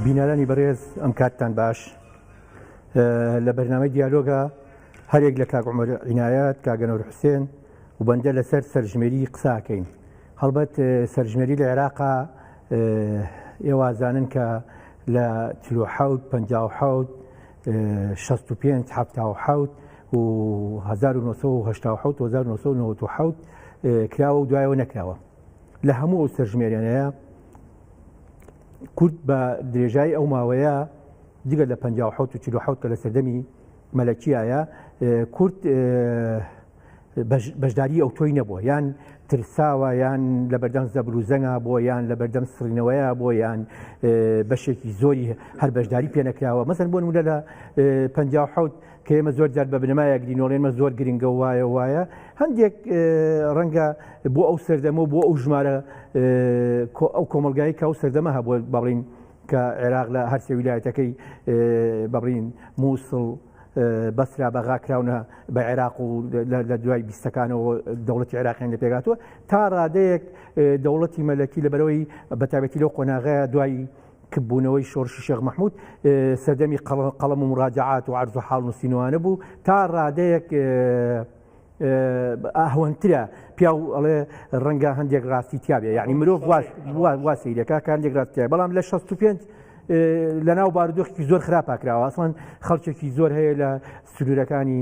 بینەرانی بەڕێز ئەم کاتتان باش لە بەرنامەی دیالۆگە هەرێک لە کاگومەر عینایەت کاگەنەور حوسێن و بەندە لەسەر سەرژمێری قساکەین هەڵبەت سەرژمێری لە عێراقا ئێوازانن کە لە چلو حوت پ حوت 65 حوت و 1970 کراوە و دوایەوە نەکراوە لە هەموو ئەو سەرژمێریانەیە کورد بە درێژایی ئەو ماوەیە جگە لە 1940 کە لە سەردەمی مەلەکیایە کورد بەشداری ئەو تۆی نەبووە یان ترساوە یان لە بەردەم زەبروزەنگا بۆ یان لە بەردەم سڕینەوەیە بۆ یان بەشێکی زۆری هەر بەشداری پێنەکراوە مەسن بۆ نمونە لە 1950 کە ئێمە زۆر جار بە بنەما یاگرینۆڵێنمە زۆر گرنگە وایە وایە هەندێک ڕەنگە بۆ ئەو سەردەمە بۆ ئەو ژمارە ئەو کۆمەلگای کە ئەو سەردەمە هەبوو بەڵین کە عێراق لە هەرسێ ویلایەتەکەی بەڵین مووسڵ بەسرا بەغا کراونە بە عێراق و لە دوای بیستەکانەوە دەوڵەتی عێراقیان لە پێگاتوە تا ڕادەیەک دەوڵەتی مەلەکی لە بەرەوەی بەتابەتی لەو قۆناغەیە دوایی کپبوونەوەی شۆڕشی شێخ مەحمود سەردەمی قەڵەم و مراجعات و عرض و حاڵ نووسینوانە بوو تا ڕادەیەک ئاهوەنترە پیاو ئەڵێ ڕەنگە هەندێک ڕاستی تیاابێ یعنی مرۆڤ واسیرەکە کاندێک ڕاستە بەڵام لە 65 لە ناو بارودۆخی زۆر خراپاکراوە ئەسڵان خەڵکێکی زۆر هەیە لە سنوورەکانی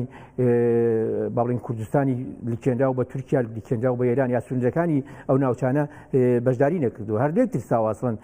باڵین کوردستانی لکێنرا و بە تورکیا لکێنرا و بە ئێران یا سنوورەکانی ئەو ناوچانە بەشداری نەکردو هەردێک ترساواسڵن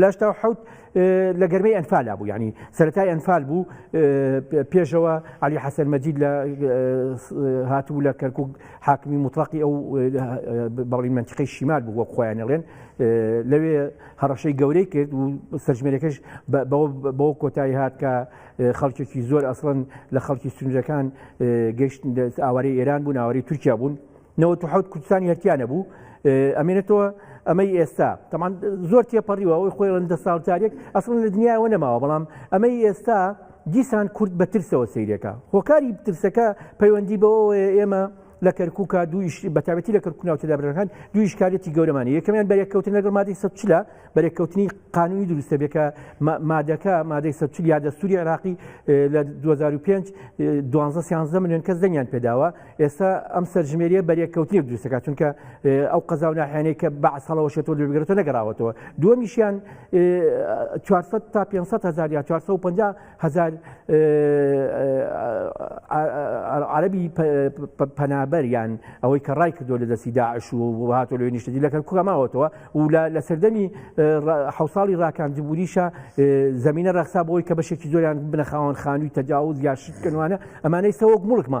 لە هەشتا و حەوت لە گەرمەی ئەنفالا بوو یعنی سەرەتای ئەنفال بوو پێشەوە علی حەسەن مەجید لە هاتبوو لە کەرکک حاکمی مطلقی ئەو بەڵی منتیقی شیمال بوو وەک خۆیانەڵێن لەوێ هەڕەشەی گەورەی کرد و سەرژمێرەکەش بەو کۆتایی هات کە خەڵکێکی زۆر ئەسڵن لە خەڵکی سنجەکان گەشت ئاوارەی ئێران بوون ئاواری تورکیا بوون نەوەد و حەوت کوردستانی هەرتیا نەبوو ئەمێنێتەوە ئەمەی ئێستا تەمان زۆر تێپەڕیوە ئەوی خۆی ڕندە ساڵتارێک ئەسڵ لە دنیاەوە نەماوە بەڵام ئەمەی ئێستا دیسان کورد بە ترسەوە سیرەکە هۆکاری ترسەکە پەیوەندی بەوە ئێمە لە کەرکووکە دویش بەتابەتی لە کەرکو ناوچە دابرەکان دویش کارێتی گەورەمانی یەکەمیان بەرێککەوتن لەگەڵ مادەی سەچلە بەرێککەوتنی قانونی دروستە بێکە مادەکە مادەی سەچل یا دەستوری عراقی لە 2005 دوانزە سیانزە میلیۆن کەس دەنگیان پێداوە ئێستا ئەم سەرژمێریە بەرێککەوتنی دروستەکە چونکە ئەو قەزا و ناحیانەی کە بەعسەڵەوەشێتەوە لەگرێتە نەگەڕاوەتەوە دووەمیشیان 400 تا 500 هزار یا 450 هزار عربی پەنابەر یان ئەوەی کە ڕای کردو لە دەستی داعش و هاتۆ لەوێ نیشتەجی لەکەن کوکەماوەتەوە و لە سەردەمی حوساڵی ڕاکاندبووریشە زمینە ڕەخسا بۆی کە بەشێکی زۆریان بنەخاوان خانووی تەجاوز یا شتکەوانە ئەمانەی سەوەک مڵکمە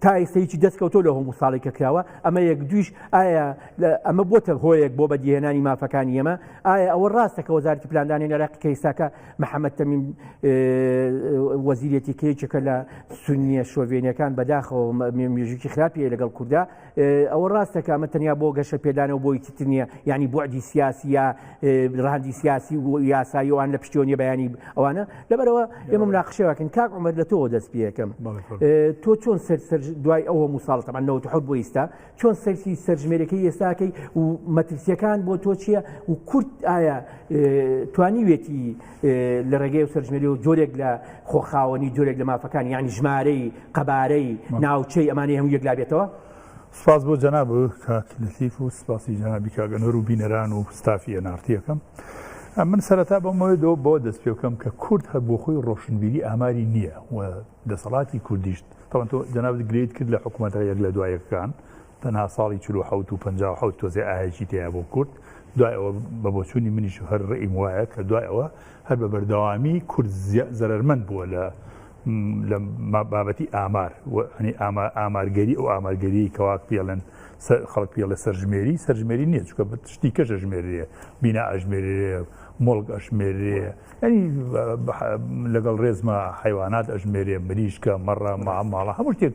تا ئێستەیکی دەستکەوتۆ لە هەموو ساڵی کە کراوە ئەمە یەک دویش ئایا ئەمە بۆتە هۆیەک بۆ بەدیهێنانی مافەکانی ئەمە ئایا ئەوە ڕاستە کە وەزارتی پلاندانی نەراقی کە ئێستاکە محەممەد تەمین وەزیرەتی کەیچەکە لە سنیە شۆڤێنەکان بەداخەوە مێژوکی خراپی لەگەڵ کووردا ئەوە ڕاستە کامە تەنیا بۆ گەشە پێدانەوە بۆی چتر نییە ینی بۆعدی سیاسی یا ڕاندی سیاسی و یاساییوان لە پشتیۆنی بەیانی ئەوانە لەبەرەوە ئێمە مناقشەوەکەن کاک عمر لە تۆ دەست پێەکەم تۆ چۆن سەر سەر دوای ئەوە مساڵتەمان نەوە حەوت بۆ ئیستا چۆن سەرسی سەرژمێرەکەی ئێستاکەی و مەترسیەکان بۆ تۆ چییە و کورت ئایا توانیوێتی لە ڕێگەی و سەرژمێری و جۆرێک لە خۆخاوەنی جۆرێک لە مافەکان یعنی ژمارەی قەبارەی ناوچەی ئەمانی هەموو یەکلا بێتەوە سپاس بۆ جەناب کاک لەتیف و سپاسی جەنابی کاگەنەر و بینەران و ستافی ئەنارتیەکەم من سەرەتا بەمەوەی دۆ بۆ دەست پێ بکەم کە کورد هەر بۆ خۆی ڕۆشنبیری ئاماری نییە و دەسەڵاتی کوردیشت تەوان تۆ جەناب گرێت کرد لە حکوومەتە یەک لە دوایەکان تەنها ساڵی چل و حەوت و پەنجا و حەوت تۆزێ ئاهەیەکی تێیا بۆ کورد دوای ئەوە بە بۆچوونی منیش و هەر ڕئیم وایە کە دوای ئەوە هەر بە بەردەوامی کورد زەرەرمەند بووە لە لە بابەتی ئامار ئامارگەری ئەو ئامارگەری کەواک پێڵێن خەڵک پێڵە سەرژمێری سەرژمێری نییە چکە شتی کەش ئەژمێرێ بینا ئەژمێرێ مڵک ئەشمێرێ ئەنی لەگەڵ ڕێزمە حیوانات ئەژمێرێ مریشکە مەڕە ماڵە هەموو شتێک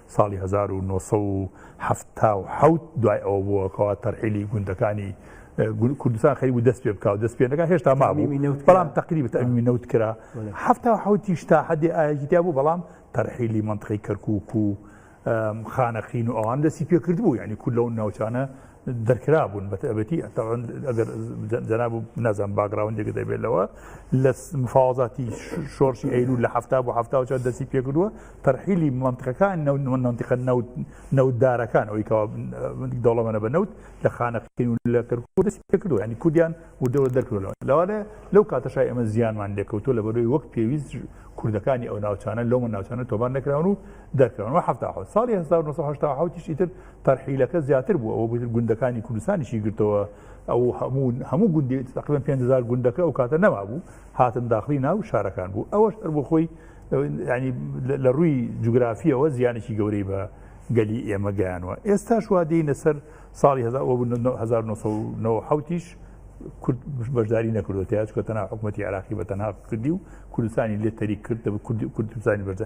ساڵی هەزار و نۆ سەد و حەفتا و حەوت دوای ئەوە بووە کەوا تەرحیلی گوندەکانی کوردستان خەری بوو دەست پێ بکاو دەست پێ نەکە هێشتا مابوو بەڵام تقریب ئەمی نەوت کرا هەفتا حوتیش تا حدی ئاهگیتیا بوو بەڵام تەرحیلی منطقی کەرکک و خانەقین و ئەوان دەستی پێکرد بوو ینی کول لەو ناوچانە دەرکرابوون بەتەبەتی ئەتەوان ئەگەر جەناب و نازان باگراوندێک دەبێت لەوە لە مفاوازاتی شۆرشی ئەیرو لە هەفتا بۆ هەفتا چا دەستی پێکردووە تەرحیلی منتقەکان نەوت منتیقە نەوت نەودارەکان ئەوی کەوا دەوڵەمەە بە نەوت لە خانەقین و لە کەرکوو دەستی پێکردووە ینی کوردیان وردەوە دەرکردەوە لەوانێ لەو کاتەشای ئەمە زیانمان لێکەوتو لە بەرەوەی وەک پێویست کوردەکانی ئەو ناوچانە لەو من ناوچانە تۆبان نەکراون و دەکەون و هەفتا ساڵی 1970 تر تەرحیلەکە زیاتر بوو ئەوە گوندەکانی کوردستانیشی گرتەوە ئەو هەموو هەموو گوندی تقریبا 5هزار گوندەکە ئەو کاتە نەما بوو هاتن داخلی ناو شارەکان بوو ئەوەش هەر بۆ خۆی ینی لە ڕووی جوگرافیەوە زیانێکی گەورەی بە گەلی ئێمە گەیانوە ئێستا شوادینە سەر ساڵی 1970ش کورد بەشداری نەکردو تاچکە تەنها حکوومەتتی عراقی بە تەنها کردی و کوردستانی لێ تەریک کرد کوردستانی بەردا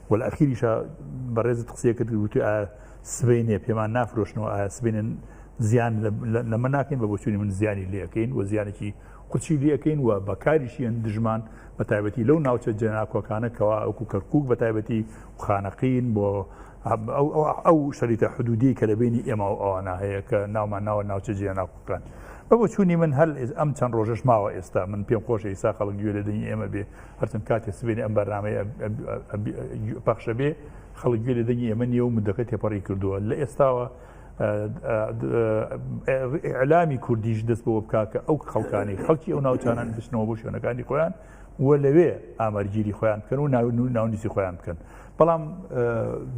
وەلە ئەخیریشا بەڕێزت قسەیە کرد وتی ئایا سبینێ پێمان نافرۆشنەوە ئایا سبینێن زیان لەمە ناکەین بە بۆچووی من زیانی لەکەین و زیانێکی قوچی لەکەین و بەکاریشیان دژمان بە تایبەتی لەو ناوچە جێناکۆکانە کەوا ئەوکو کەرکک بە تایبەتی خانەقین بۆ ئەو شەریتە حدودی کە لە بینی ئێمە و ئەوانە هەیە کە ناومان ناوە ناوچە جێناکۆکان بە بۆچوونی من هەل ئەم چەند ڕۆژش ماوە ئێستا من پێم خۆش ئێستا خەڵک گوێ لە دەنی ئێمە بێ هەرچەند کاتێ سبێنێ ئەم بەرنامەی پەخشە بێ خەڵک گوێ لە دەنگی ئێمە نیە و مدەکە تێپەڕی کردووە لە ئێستاوە ئەلامی کوردیش دەست بۆ بکا کە ئەو خەڵکانی خەڵکی ئەو ناوچانان بچنەوە بۆ شوێنەکانی خۆیان و لەوێ ئامەرگیری خۆیان بکەن و ناون و ناونیسی خۆیان بکەن بەڵام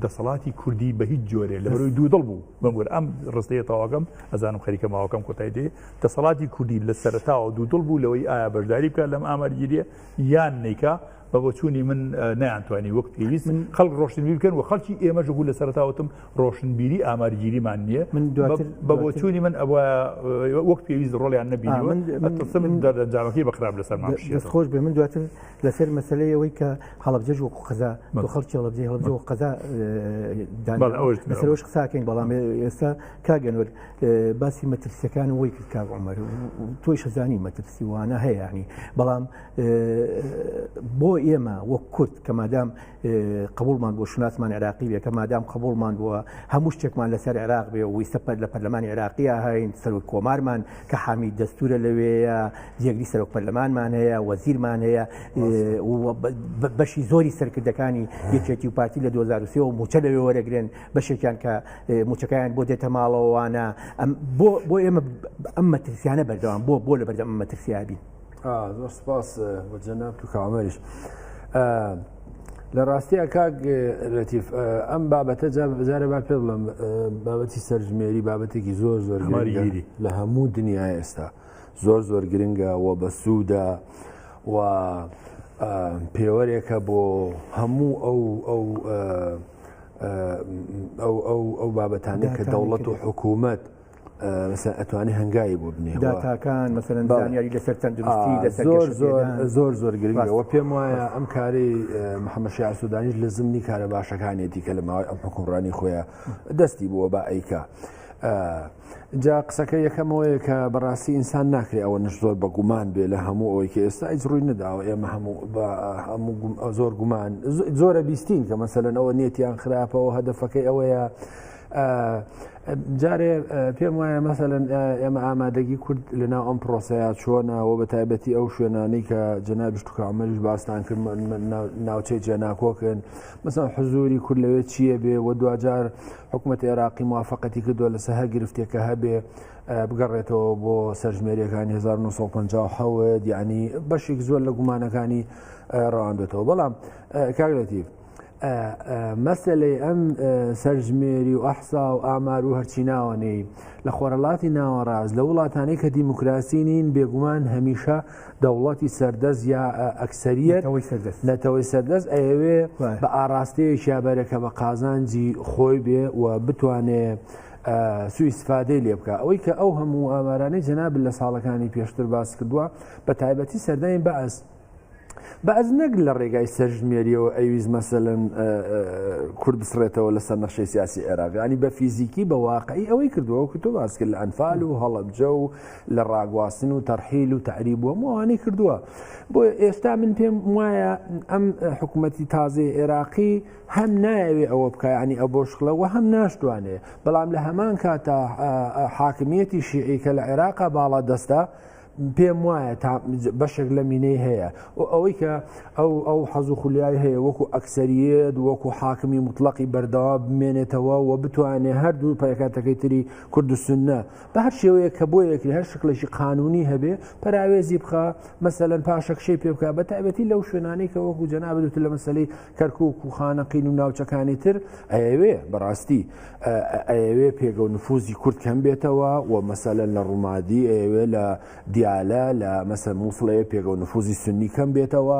دەسەڵاتی کوردی بە هیچ جۆرێ لە بەروی دوو دڵ بوو بەمور ئەم ڕستەیە تاواگەم ئەزانم خەریکە ماوەکەم کۆتای دێ دەسەڵاتی کوردی لە سەرەتاوە دوودڵ بوو لەوەی ئایا بەشداری بکات لەم ئامارگیریە یان نیکا بە بۆچوونی من نەیانتوانی وەک پێویست من خەڵک ڕۆشنبی بکەن و خەڵکی ئێمەش بوو لە سەرتاوتم ڕۆشنبیری ئامارگیریمان نییە من بە بۆچوونی من ئەوە وەک پێویست ڕۆڵیان نەبی من دەرەنجامەکەی بەخراپ لەسەر خۆش بێ من دواتر لەسەر مەسلەی ئەوەی کە هەڵبجەش وەکو قەزا خەڵکی هەڵبجی هەڵبجی و قەزا دانەوەش قساکەین بەڵام ئێستا کاگەنۆر باسی مەترسیەکان وی کرد کاک عمر تۆی شەزانی مەترسی وانە هەیەنی بەڵام بۆ ئێمە وەک کورد کە مادام قبولمان بۆ شناسمان عراقی بێ کە مادام قبولمان بووە هەموو شتێکمان لەسەر عراق بێ ویستە پەر لە پەرلەمانی عراقیە هاین سەرۆک کۆمارمان کە حامی دەستورە لەوەیە جێگری سەرۆک پەرلەمانمان هەیە وەزیرمان هەیە بەشی زۆری سەرکردەکانی یەکێتی و پارتی لە 2023 موچە لەوێ وەرەگرن بەشێکیان کە موچەکەیان بۆ دێتە ماڵەوەوانە بۆ ئێمە ئەم مەترسیانە بەردەوام بۆ بۆ لە بەردەم مەترسیابی زۆر سپاس بۆ جەناب تو کامەریش. لە ڕاستیە کاک لەتیف ئەم بابەتە جارە با پێ بڵم بابەتی سەرژمێری بابەتێکی زۆر زۆر ماریگیری لە هەموو دنیا ئێستا زۆر زۆر گرنگە و بە سوودا و پێوەرێکە بۆ هەموو ئەو ئەو ئەو بابەتانە کە دەوڵەت و حکوومەت ئەتوانی هەنگایی بۆ بنێ داتاکان مەسەرەن زانیاری لەسەر تەندروستی زۆر زۆر زۆر زۆر گرنگەوە پێم وایە ئەم کاری محەممەشی ئاسوودانیش لە زمنی کارە باشەکانێتی کە لە ماوەی ئەم حکومڕانی خۆیان دەستی بووە بە ئەیکە. جا قسەکە یەکەمەوەیە کە بەڕاستی ئینسان ناکرێت ئەوە نش زۆر بە گومان بێ لە هەموو ئەوەی کە ئێستا ئیج ڕووی نەداوە ئێمە هەموو هەموو زۆر گومان زۆرە بیستین کە مەسەلەن ئەوە نیەتیان خراپەوە هەدەفەکەی ئەوەیە جارێ پێم وایە مەسەن ئێمە ئامادەگی کورد لەناو ئەم پرۆسەیە چۆنەوە بە تایبەتی ئەو شوێنانی کە جەنابشتکامەش باستان کرد ناوچەی جێناکۆکن مەسەن حزوری کورد لەوێ چییە بێ و دوجار حکومەتی عێراقی موافقەتی کردووە لەسەر هەر گرفتێکە هەبێ بگەڕێتەوە بۆ سەرژمێریەکانی 1950 یعنی بەشێک زۆر لە گومانەکانی ڕواندێتەوە بەڵام کاگرێتیف مەسلەی ئەم سەرژمێری و ئەحسا و ئامار و هەرچی ناوەنەی لە خۆرەڵاتی ناوەڕاز لە وڵاتانی کە دیموکراسی نین بێگومان هەمیشە دەوڵەتی سەردەست یا ئەکسەریەت نەتەوەی سەردەست ئەیەوێ بە ئاراستەیەکیا بەرەکە بە قازانجی خۆی بێ و بتوانێ سوئیسفادەی لێ بکە ئەوەی کە ئەو هەموو ئامارانەی جەناب لە ساڵەکانی پێشتر باس کردووە بە تایبەتی سەردانی بەس بەز نەک لە ڕێگای سەرژمێریەوە ئەویز مەسەن کورد بسڕێتەوە لەسەر نەخشەی سیاسی عێراقیانی بە فیزیکی بە واقعی ئەوەی کردووە کە تۆ باس کرد لە ئەنفال و هەڵبجە و لە ڕاگواستن و تەرحیل و تەعریب و هەموو ئەوانەی کردووە بۆیە ئێستا من پێم وایە ئەم حکوومەتی تازەی عێراقی هەم نایەوێ ئەوە بکە ینی ئە بۆ شکڵەوە هەم ناشتوانێ بەڵام لە هەمان کاتە حاکمیەتی شیعی کە لە عێراقا باڵا دەستە پێم وایە تا بەشێک لە مینەی هەیە و ئەوەی کە ئەو ئەو حەز و خولیای هەیە وەکو ئەکسریت وەکو حاکمی مطلقی بەردەوا بمێنێتەوە و بتوانێت هەردوو پایکاتەکەی تری کوردستنە بە هەر شێوەیەک کە بۆ یەکری هەر شکلێکی قانونی هەبێ پەراوێزی بخە مەسەەن پاشەکشەی پێ بکە بە تایبەتی لەو شوێنانی کە وەکو جەنا بدوت لە مەسلەی کەرکک و خانەقین و ناوچەکانی تر ئەوێ بەڕاستی ئەوێ پێگە و نفوزی کورد کەم بێتەوە و مەسەلەن لە ڕوومادی ئەوێ لە دیالە لە مەسەر مووسڵەیە پێگە و نفوزی سنی کەم بێتەوە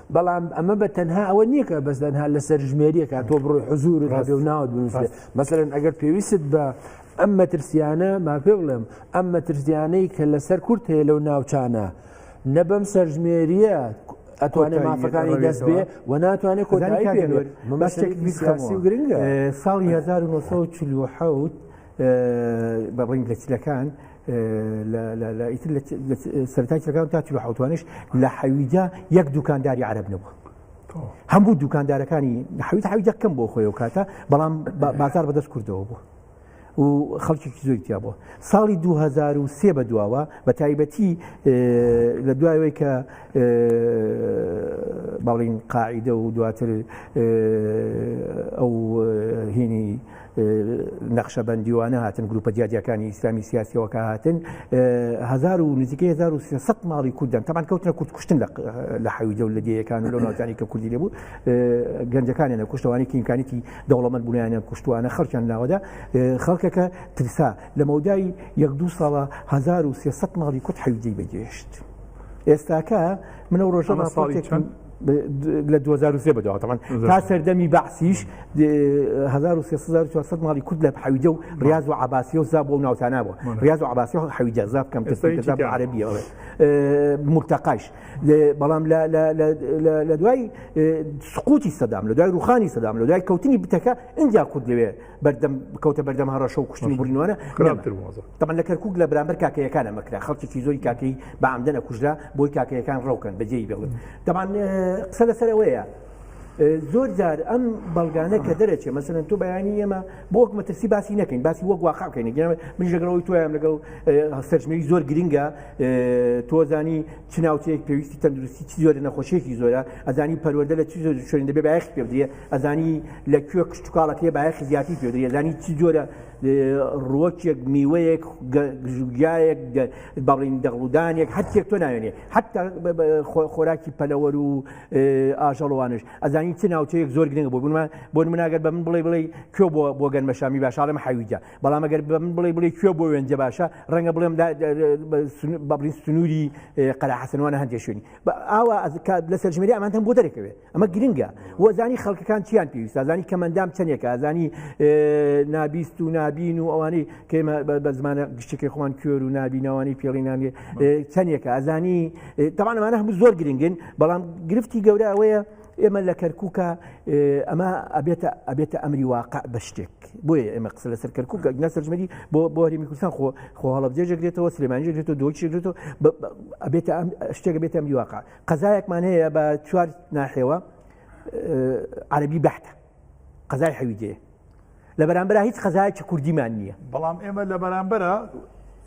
بەڵام ئەمە بە تەنها ئەوە نییە کە بەس دەنها لە سەرژمێریەکە تۆ بڕۆی حزور هەبێ و ناوت بنووسێ مەسەرەن ئەگەر پێویست بە ئەم مەترسیانە ما پێ بڵێم ئەم مەترسیانەی کە لەسەر کورت هەیە لەو ناوچانە نەبم سەرژمێریە ئەتوانێ مافەکانی دەست بێ و ناتوانێت کۆتایی پێ بەشتێک بیسخاسی و گرنگە ساڵی 1940 بە ڕنگ لە چلەکان ئیتر سەرتای چەکان تا چ حوتوانش لە حەویجا یەک دوکانداری عرب نەبوو هەموو دوکاندارەکانی حویت حویجە کەم بۆ خۆی و کاتە بەڵام بازار بەدەست کردەوە بوو و خەڵکیی زۆی تیا بووە ساڵی 2023 بە دواوە بە تایبەتی لە دوایەوەی کە باڵین قاعدە و دواتر ئەو هینی نەخشەبەندیوانە هاتن گروپە دیادیەکانی ئیسلامی سیاسیەوەکە هاتن هزار و نزیکە 1970 ماڵی کوردن تەمان کەوتنە کورد کوشتن لە حەوی دەول لە دیەکان و لە ناوزانی کە کوردی لێبوو گەنجەکانیان کوشتوانی کینکانێتی دەوڵەمەند بوونیانە کوشتوانە خەڵکیان ناوەدا خەڵکەکە ترسا لە مەودای یەک دو ساڵە 1970 ماڵی کورد حەوی بەگەشت ئێستاکە منە ڕۆژە ساڵی چەند لە 2023 بەدەوە تەمان تا سەردەمی بەعسیش 1940 ماڵی کورد لە حەویدە و ڕاز و عباسی و زاب و ناوتانە بوو ڕاز و عباسی و حەویدە زاب کەم کەساب عربیە مرتەقاش بەڵام لە دوای سقوتی سەدام لە دوای ڕوخانی سەدام لە دوای کەوتنی بتەکە ئەجا کورد لەوێ بەردەم بکەوتە بەردەم هەڕەشە و کوشتنی بڕینوانە تەمە لە کەرکک لە برامبەر کاکەیەکان ئەمەکرا خەڵکیی زۆری کاکەی بە ئەمدەە کوژرا بۆی کاکەیەکان ڕەوکەن بەجێی بڵن دەبان قسە لەسەرەوەیە زۆر جار ئەم بەڵگانە کە دەرەچێ مەسەن تۆ بەیانی ئێمە بۆک مەترسی باسی نەکەین باسی وەک واقعکەین من لەگەڵەوەی تۆیان لەگەڵ هەستەرژمەوی زۆر گرنگە تۆزانی چناوچەیەک پێویستی تەندروستی چی زۆرە نەخۆشیێکی زۆرە ئەزانی پەروەدە لە چی زۆر شوێن دەبێ باەخ پێ بدرێ ئەزانی لە کوێ کشتتوکاڵەکەی بایەخی زیاتی پێدری ئەزانی چ جۆرە ڕوەکێک میوەیەک گژوگایەک بەڵین دەغڵودانێک هەرچێک تۆ ناوێنێ حتا خۆراکی پەلەوەر و ئاژەڵوانش ئەزانین چ ناوچەیەک زۆر گرنگ بۆ بوومە بۆ منناگەر بە من بڵێ بڵێ کوێ بۆ بۆ گەنمەشامی باشاڵم حویجە بەڵام ئەگەر بە من بڵێ بڵێ کوێ بۆ وێنجە باشە ڕەنگە بڵێم بەڵین سنووری قەرە حەسەنوانە هەندێک شوێنی ئاوا لە سەرژمێری ئەمانتەم بۆ دەرەکەوێت ئەمە گرنگە و زانی خەڵکەکان چیان پێویست زانی کەمەندام چەندێکە زانی نابیست و نابین و ئەوانی کەمە بە زمانە گشتەکەی خۆمان کوێر و نابینەوانی پێڵینانێ چەندێکە ئەزانی تەوانمانە هەموو زۆر گرنگن بەڵام گرفتی گەورە ئەوەیە ئێمە لە کەرکووکە ئەمە ئەبێتە ئەبێتە ئەمری واقع بە شتێک بۆیە ئێمە قسە لەسەر کەرکووک گەگنا سەرژمەری بۆ بۆ هەرمی کوردستان خۆ خۆ هەڵبجێژەگرێتەوە سلێمانجێگرێتەوە دۆچێگرێتەوە ئەبێتە ئەم شتێک بێتە ئەمری واقع قەزایەکمان هەیە بە چوار ناحێوە عەربی بەحتە قەزای حەویجێ لە بەرامبرا هیچ قەزایکی کوردیمان نییە بەڵام ئێمە لە بەرامبرە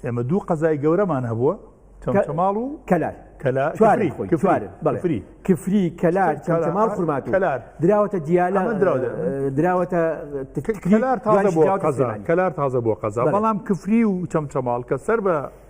ئێمە دوو قەزای گەورەمان هەبووە چەمچەماڵ و کەلار کەلارفری کفری کەلار چەمچەماڵ خورمات کەلار دراوەتە دیالە دراوەتە کەلار تازە بۆ قەزا کەلار تازە بۆ قەزا بەڵام کفری و چەمچەماڵ کە سەر بە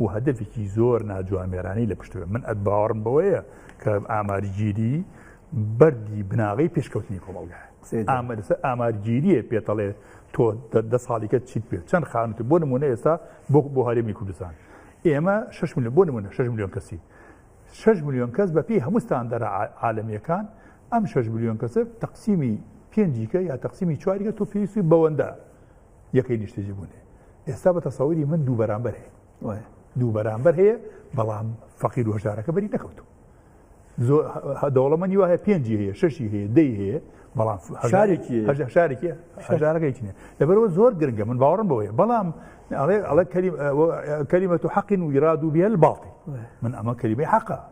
و هەدەفێکی زۆر ناجوامێرانەی لە پشت بێ من ئەت باوەڕم بەوەیە کە ئامارگیری بەردی بناغی پێشکەوتنی کۆمەڵگای ئامەرسە ئامارگیریە پێتەڵێ تۆ دە ساڵیکە چیت پێ چەند خانوت بۆ نمونە ئێستا بۆ بۆ هەرێمی کوردستان ئێمە 6 میلیۆن بۆ نمونە 6 میلیۆن کەسی 6 میلیۆن کەس بەپی هەموستان دەرە عاالمیەکان ئەم 6 میلیۆن کەسە تەقسیمی پێنجیکە یا تەقسیمی چواریکە تۆ پێویستی بەوەندە یەکەی نیشتەجی بوون هەیە ئێستا بە تەسەوری من دوو بەرامبەر هەیە دوو بەرامبەر هەیە بەڵام فەقیر وەژارەکە بەری نەکەوتو دەوڵەمەنی وایە پێنجی هەیە شەشی هەیە دەی هەیە بەڵام شارێکی شارێکی هەژارەکەیکی نیە لەبەرەوە زۆر گرنگە من باوەڕم بەوەیە بەڵام ئەڵێ ئەڵە کەریمە و حەقین و ویراد و بێل باڵی من ئەمە کەریمەی حەقە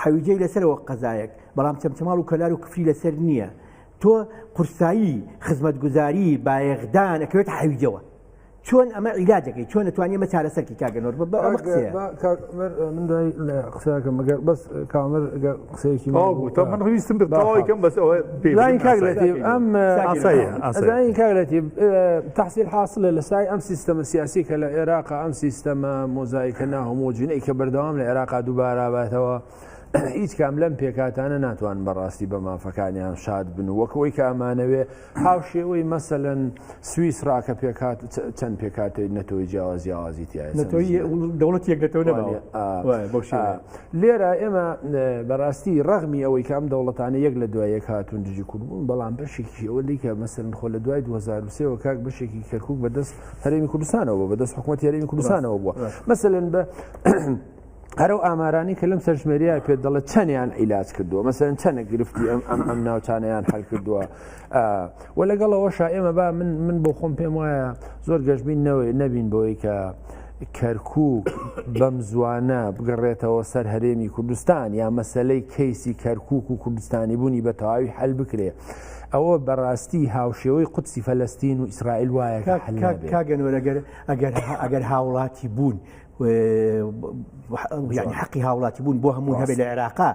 حەویجەی لەسەرەوە قەزایەک بەڵام چەمچەماڵ و کەلار و کفری لەسەر نییە تۆ قورسایی خزمەتگوزاری بایەخدان ئەکەوێت حەویجەوە چۆن ئەمە عیلاجەکەی چۆن توانانی مە چارەسەرکی کاگەنۆر من دوای قسەکە مەگەر بەس کامر قسەیەکی تەواو بوو تا من ویستم بە تەواوی کەم بەس ئەوە پێین کاگرێتی ئەم ئەزانین کاگرێتی تحصیل حاصلە لە سای ئەم سیستەمە سیاسی کە لە عێراق ئەم سیستەمە مۆزایکە ناهۆمۆجینەی کە بەردەوام لە عێراقا دووبارابێتەوە هیچ کام لەم پێکاتانە ناتوان بەڕاستی بە مافەکانیان شاد بن وەکەوەی کامانەوێ هاوشێوەی مەسەلەن سویسرا کە پێکات چەند پێکاتێک نەتەوەی جیاواز جیاوازی تایە دەوڵەت یەکەتەوە لێرە ئێمە بەڕاستی ڕغمی ئەوەی کام دەوڵەتانە یەک لە دوای یەک هاتون دژی کوردبوون بەڵام بەشێکی ئەوە دیکە مەسەرن خۆ لە دوای 2023ەوە کاک بەشێکی کەرکک بەدەست هەرێمی کوردستانەوە بەدەست حکوومەت یاریمی کوردستانەوە بووە مەسەن بە هەر و ئامارانی کە لەم سەرژمێریای پێ دەڵێ چەندیان ئیلاج کردووە مەسەن چەنە گرفتی ئەم ئەم ئەم ناوچانیان حل کردووە و لەگەڵەوەشا ئێمە با من من بۆ خۆم پێم وایە زۆر گەشتبین نەوەی نەبین بۆی کە کەرکک بەم زوانە بگەڕێتەوە سەر هەرێمی کوردستان یا مەسلەی کەیسی کەرکک و کوردستانی بوونی بە تەواوی حل بکرێ ئەوە بەڕاستی هاوشێوەی قوتسی فەلستین و ئیسرائیل وایە کاگەنۆرەگەر ئەگەر ئەگەر هاوڵاتی بوون یعنی حقی هاوڵاتی بوون بۆ هەموو هەبێت لە عێراقا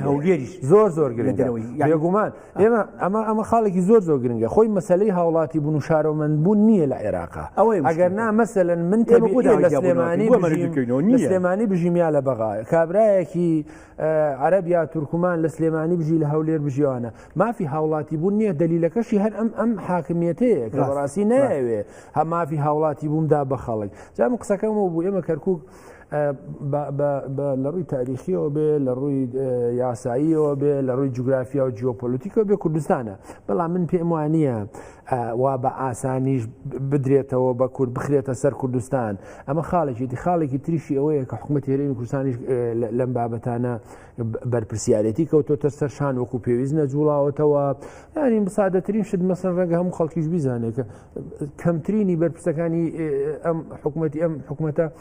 هەولێریش زۆر زۆر گرنگەوەی یاگومان ئێمە ئەمە ئەمە خاڵێکی زۆر زۆر گرنگە خۆی مەسلەی هاوڵاتی بوون و شارۆمەند بوون نییە لە عێراقا ئەوەی ئەگەر نا مەسەن من تێمەکو لە سلێمانی سلێمانی بژیمیا لە بەغاە کابراایەکی عەرەب یا تورکمان لە سلێمانی بژی لە هەولێر بژیوانە مافی هاوڵاتی بوون نییە دلیلەکەشی هەر ئەم ئەم حاکمیەتەیە کە بەڕاستی ناوێ هە مافی هاوڵاتی بوومدا بە خەڵک جام قسەکەم و بوو ئێمە کەرکک لە ڕووی تاریخیەوە بێ لە ڕووی یاساییەوە بێ لە ڕووی جوگرافیا و جیۆپۆلیتیکەوە بێ کوردستانە بەڵام من پێم وانە وا بە ئاسانیش بدرێتەوە بە کورد بخرێتە سەر کوردستان ئەمە خاڵێکی دی خاڵێکی تریشی ئەوەیە کە حکومە تێرەی کوردستانیش لەم بابەتانە بەرپسیارەتی کەوتۆتە سەر شان وەکو پێویست نەجوڵاوەتەوە ینی مسادەترین شت مەسەر ڕەنگە هەموو خەڵکیش بیزانێت کە کەمترینی بەرپرسەکانی ئەم حکوومەتتی ئەم حکوومەتە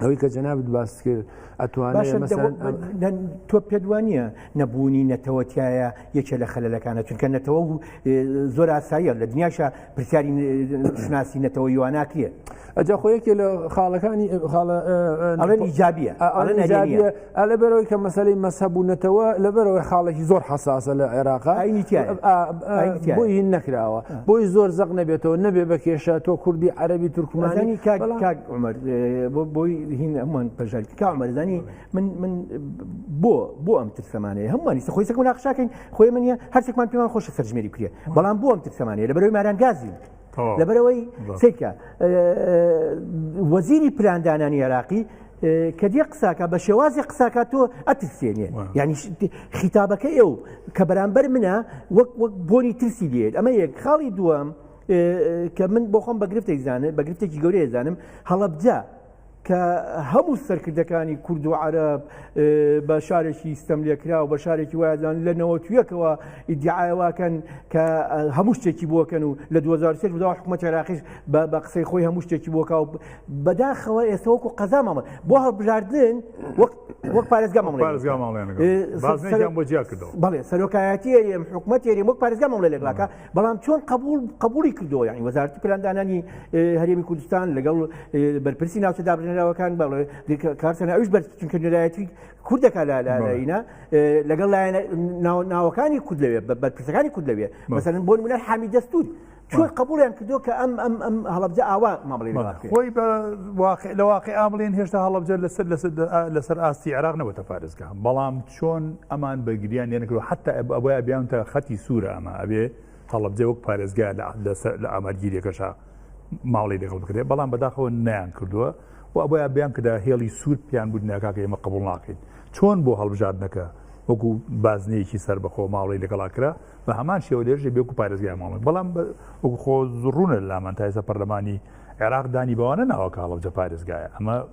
ئەوەی کە جەنابت باست کرد ئەتوانێت تۆ پێدوانە نەبوونی نەتەوەتایە یەکێ لە خەلەکانە چونکە نەتەوە و زۆر ئاساییە لە دنیاشە پرسیاری شناسی نەتەوە یواناکرێت ئەجا خۆیەکێ لە خاڵەکانی خاڵە ئەڵێن ئیجابە ئەڵێن ئا لەبەرەوەی کە مەسەلەی مەسەب و نەتەوە لەبەرەوەی خاڵێکی زۆر حساسە لە عێراق ئاینی تیایە. ئا- ئا- ئاینی تیایە. بۆی هین نەکراوە بۆی زۆر زەق نەبێتەوە نەبێ بە کێشە تۆ کوردی عەربی تورکمانی مەزانی کاک بەڵام- کاک عمر بۆ بۆی هین هەمووان پەژاکی کا عمرزانی من من بۆ بۆ ئەم ترسەمانەیە هەمووانی سە خۆی سەکو ناخشاکەین خۆی منە هەرچێکمان پێمان خۆشە سەرژمێری بکرێ بەڵام بۆ ئەم ترسەمانەیە لە بەرەوەی ماران گازی لەبەرەوەی سکە وەزیری پلاندانانی عێراقی کە دیێ قساکە بە شێوازی قساکە تۆ ئەترسێنێ ینی خیتابەکە ئێو کە بەرامبەر منە وەک وەک بۆنی ترسی دێت ئەمە یەک خاڵی دووەم کە من بۆ خۆم بەگرفتێک زانێت بەگرفتێکی گەورەیە زانم هەڵەبجە کە هەموو سەرکردەکانی کورد و عرب بە شارێکی ستەم لێکرا و بە شارێکی وایدان لە نەوەتویەکەوە ئیدعاواکەن کە هەموو شتێکی بۆکەن و لە 2023 بدا حکومە تێراقیش بە قسەی خۆی هەموو شتێکی بۆکا و بەداخەوە ئێستا وەکو قەزا مامە بۆ هەڵبژاردن وەک پارێزگا بەڵێ سەرۆکایەتی ئەم حکومەت تێری وەک پارێزگا مامڵێ لەگەڵاکە بەڵام چۆن قبول قبولی کردەوە یعنی وەزارتی پلاندانانی هەرێمی کوردستان لەگەڵ بەرپرسی ناوچە دابژێنراوەکان بە کارسەنە ئەوش بەر چونکە نرایەتی کوردەکە لە لاینا لەگەڵ لایەن ناوەکانی کورد لەوێ بەرپرسەکانی کورد لەوێ مەسەن بۆن منەر حامی دەستور چۆن قبولیان کردو کە ئەم ئەم ئەم هەڵبجە ئاوا مامڵی خۆی بە لە واقع ئابلێن هێشتا هەڵبجە لەسەر لەسەر لەسەر ئاستی عراق نەوەتە پارێزگا بەڵام چۆن ئەمان بە گریان لێ نەکرد حتا ئەبێ ئەبیانتە خەتی سوورە ئەمە ئەبێ هەڵبجێ وەک پارێزگا لە ئامارگیریەکەشا ماڵی لەگەڵ بکرێت بەڵام بەداخەوە نیان کردووە و ئەبیا بیان کەدا هێڵی سوور پیان بود ناکاکە ئێمە قبول ناکەین چۆن بۆ هەڵبژاردنەکە وەکو بازنەیەکی سەر بەخۆ ماڵی لەگەڵا کرا بە هەمان شێوە لێژێ بێکو پارێزگای ماڵی بەڵام وەکو خۆ زڕونە لامان تایسە پەرلەمانی عێراق دانی بەوانە ناوە کاڵەجە پارێزگایە ئەمە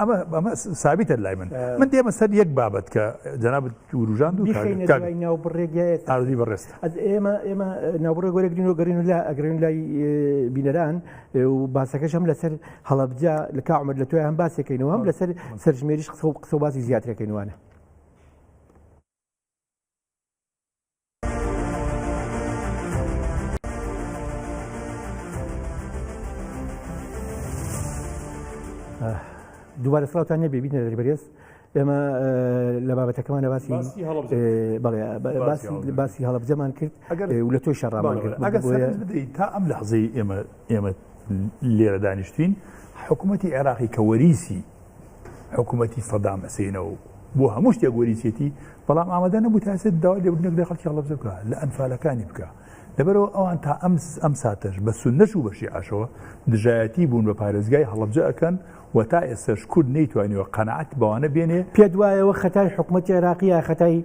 ئەمە ئەمە سابیتە لای من من دێمە سەر یەک بابەت کە جەناب وروژان دوو ناوبڕێگەێت ئازی بەڕێست ئێمە ئێمە ناوبڕێ گۆرەگرین و گەرین و لا ئەگرین لای بینەران و باسەکەش هەم لەسەر هەڵبجا لە کامەر لە توی هەم باسەکەینەوە هەم لەسەر سەرژمێریش قسە و قسە باسی زیاترەکەینوانە دووبارە سڵاوتان نەبێ بینە دەری بەرێز ئێمە لە بابەتەکەمانە باسی باسی هەڵبجەمان کرد و لە تۆی شەڕامان کرد تا ئەم لە حزەی ئێمە ئێمە لێرە دانیشتین حکوومەتتی عێراقی کە وەریسی حکوومەتی سەدام ئەسێنەوە بۆ هەموو شتێک وەریچێتی بەڵام ئامادە نەبوو تاسێت داوا لێبنێک لە خەڵکی هەڵبزە بکە لە ئەنفالەکانی بکە لەبەرەوە ئەوان تا ئەم ئەم ساتەش بە سنەش و بەشی ئاشەوە دژایەتی بوون بە پارێزگای هەڵبجە ئەەکەن و تا ئێستش کورد نەیتوانیوە قەنەعات بەوانە بێنێ پێت وایەوە خەتای حکوومەت عێراقیە خەتای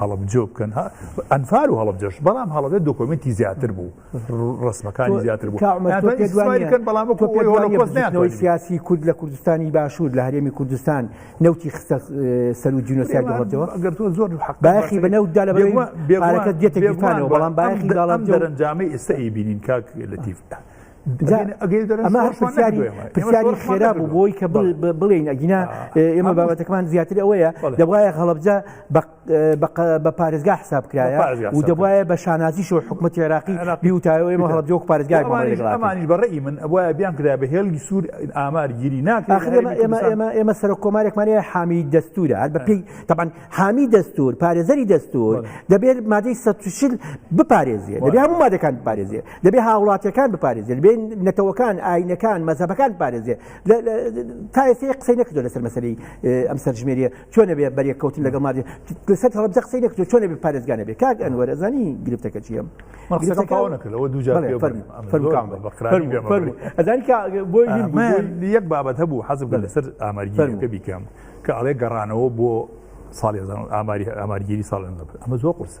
هەڵەبجە بکەن ها ئەنفال و هەڵەبجەش بەڵام هەڵەبێت دۆکۆمنتی زیاتر بوو ڕسمەکانی زیاتر بوو کەمەکەن بەڵام بۆی سیاسی کورد لە کوردستانی باشوور لە هەرێمی کوردستان نوتی خستە سەر و جینۆسیای گەڵەتەوە گەر تۆ زۆر باخی بە نەوتدا لە بێوارەکە دێتەکانەوە بەڵام باخی دەڵام دەرەنجامی ئێستا ئی بینین کاک لەتیف ئەمە پرسیاری پرسیاری خێرا بوو بۆی کە بڵێین ئەگینا ئێمە بابەتەکەمان زیاتر ئەوەیە دەبواە هەڵبجە بە پارێزگا حساب کرایە و دەبواە بە شانازی شو حکوومەت عێراقی بیوتایەوە ئێمە هەڵبجۆک پارێزگای ئەمانیش بەڕێی من ئەوە بیان کرا بە هێڵگی سوور ئامار گیری ناکرێت ئێمە ئێمە ئێمە سەر کۆمارێکمانە حامی دەستورە هەر بەپی تەبان حامی دەستور پارێزەری دەستور دەبێت مادەی سەشل بپارێزیێت دەبێ هەموو مادەکان بپارێزیێت دەبێ هاوڵاتیەکان بپارێزێت بێن نەتەوەکان ئاینەکان مەزەبەکان پارێزێ تا ئێستا قسەی نەکردو لەسەر مەسەری ئەم سەرژمێریە چۆنە بێ بەرێک کەوتن لەگەڵ مادی لەسەر هەڵبجە قسەی نەکردو چۆنە بێ پارێزگانە بێ کاک ئەنوەر ئەزانی گرفتەکە چیە یەک بابەت هەبوو حەزب لەسەر ئاماریگەکە بیکەم کە ئەڵێ گەڕانەوە بۆ ساڵی ئاماری ئامارگیری ساڵ ئەمە زۆر قرسە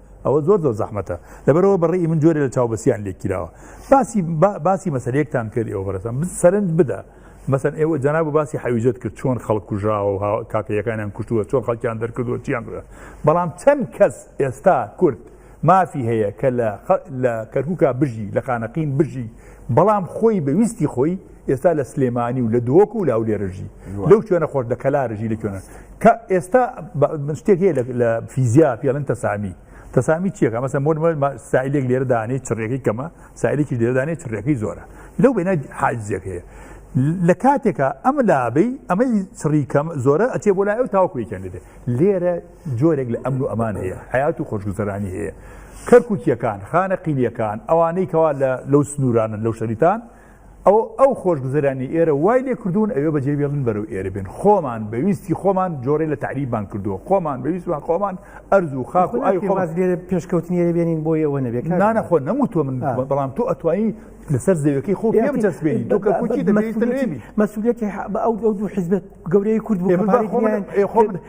ئەوە زۆر زۆر زەحمەتە لەبەرەوە بەڕێی من جۆرە لە چاوبەسییان لێکیراوە باسی باسی مەسەرێکتان کرد ئێوە بەرەسان سەرنج بدە مەسەن ئێوە جەناب و باسی حەویژت کرد چۆن خەڵک کوژاوە کاکەیەکانیان کوشتووە چۆن خەڵکیان دەرکردووە چیان کرد بەڵام چەند کەس ئێستا کورد مافی هەیە کە لە کەرکووکا بژی لە خانەقین بژی بەڵام خۆی بە ویستی خۆی ئێستا لە سلێمانی و لە دۆک و لاولێرژی لەو شوێنە خۆش لە کەلارژی لە کوێنە کە ئێستا شتێک هەیە لە فیزیا پێڵن تەسامی تەسامی چیەکە مەسە مۆ سایلێک لێرە دانێ چڕێکی کەمە سایلێکی لێدانێ چڕێکی زۆرە لەو بێنە حاجزێک هەیە لە کاتێکە ئەمە لابی ئەمەی چڕی کەم زۆرە ئەچێ بۆ لای ئەو تاوکوێکیان لێ لێرە جۆرێک لە ئەمن و ئەمان هەیە، حەیات و خۆشگوزەرانی هەیە. کەرکوکییەکان، خانەقینییەکان، ئەوانەی کەوا لە لەو سنوورانەن، لەو شەریتان، ئەوە ئەو خۆشگوزەرانی ئێرە وای لێ کردوون ئەوێ بەجێ بێڵن بەرەو ئێرە بێن. خۆمان بە ویستی خۆمان جۆرێ لە تەعریبمان کردووە. خۆمان بە ویستمان خۆمان ئەرز و خاک و ئاوی خۆمان. لێرە پێشکەوتنی ئێرە بێنین بۆ ئێوە نەبێ کاک. نا نا خۆ نەموتووە من بەڵام تۆ ئەتوانی لەسەر زەویەکەی خۆ پێ بچەسپێنی تۆ کەرکوکی دەمەویستە لێبی. مەسوولیەتی ئەو دوو حیزبە گەورەی کورد بوو. ئێ من با خۆم ئێ خۆم